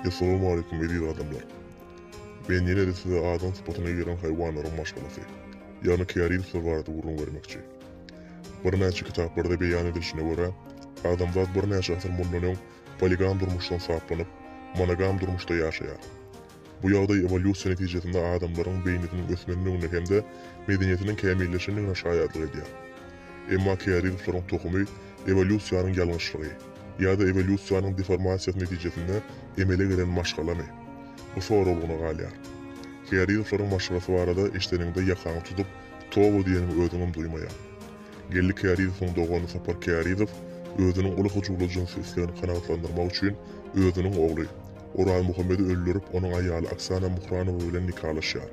Essalamu aleýkum eziz adamlar. Men ýene-de size adam sypatyna giren haýwanlaryň maşgalasy, ýagny kärilsler barada gürrüň bermekçi. Birnäçe kitaplarda beýan edilişine görä, adamzat birnäçe asyr mundan öň poligam durmuşdan saplanyp, monogam durmuşda ýaşaýar. Bu ýagdaý ewolýusiýa netijesinde adamlaryň beýnisiniň ösmendigine hem-de medeniýetiniň kämilleşendigine şaýatlyk edýär. Emma Kearigowlaryň tohumy ewolýusiýanyň ýalňyşlygy, ýa-da ewolýusiýanyň deformasiýasy netijesinde emele gelen maşgalamy? Bu soraglygyna galýar. Kearigowlaryň maşgalasy barada eşideniňde ýakaňy tutup, toba diýeniňi özüňem duýmaýaň. Geldi Kearigowyň dogany Sapar Kearigow özüniň uly hyjuwly jynsy islegini kanagatlandyrmak üçin özüniň ogly, Oralmuhammedi öldürip, onuň aýaly Oksana Muhranowa bilen nikalaşýar.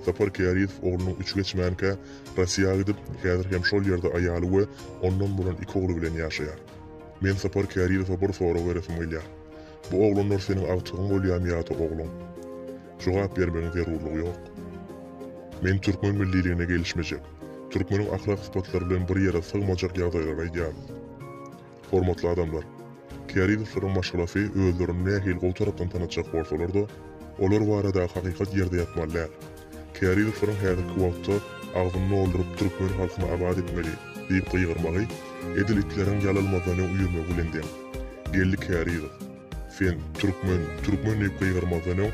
Sapar Kärizow oglunyň üçi geçmänkä Rossiýa gidip, häzir hem şol ýerde aýaly we ondan bolan iki ogly bilen ýaşaýar. Men Sapar Kärizowa bir sorag beresim gelýär. Bu oglanlar seniň agtygyň bolýamy ýa-da ogluň? Jogap bermegiň zerurlygy ýok. Men türkmen milliligine gelişmejek, türkmeniň ahlak sypatlary bilen bir ýere sygmajak ýagdaýlary aýdýaryn. Hormatly adamlar! Kärizoslaryň maşgalasy özlerini nähili gowy tarapdan tanatjak bolsalar-da, olar baradaky hakykat ýerde ýatmaly däl. Kärizoslaryň häzirki wagtda agzyny dolduryp türkmen halkyny abat etmeli! diýip gygyrmagy edil itleriň ýalylmazdan öň üýrmegi bilen deň. Geldi Kärizow! Sen türkmen, türkmen diýip gygyrmazdan öň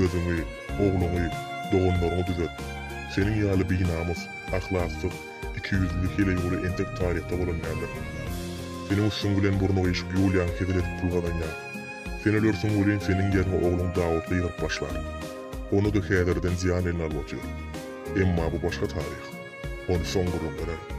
özüňi, ogluňy, doganlaryňy düzet. Seniň ýaly binamys, ahlaksyz, ikiýüzli heleýuly entek taryhda bolan däldir. Seniň üstüň bilen burny gyşyk Ýuliýaň hezil edip pul gazanýar. Sen ölersiň welin seniň ýerňe ogluň Dawut gygyryp başlar. Ony-da häzirden zyýan eline alyp otyr. Emma bu başga taryh. Ony soň gürrüň bererin.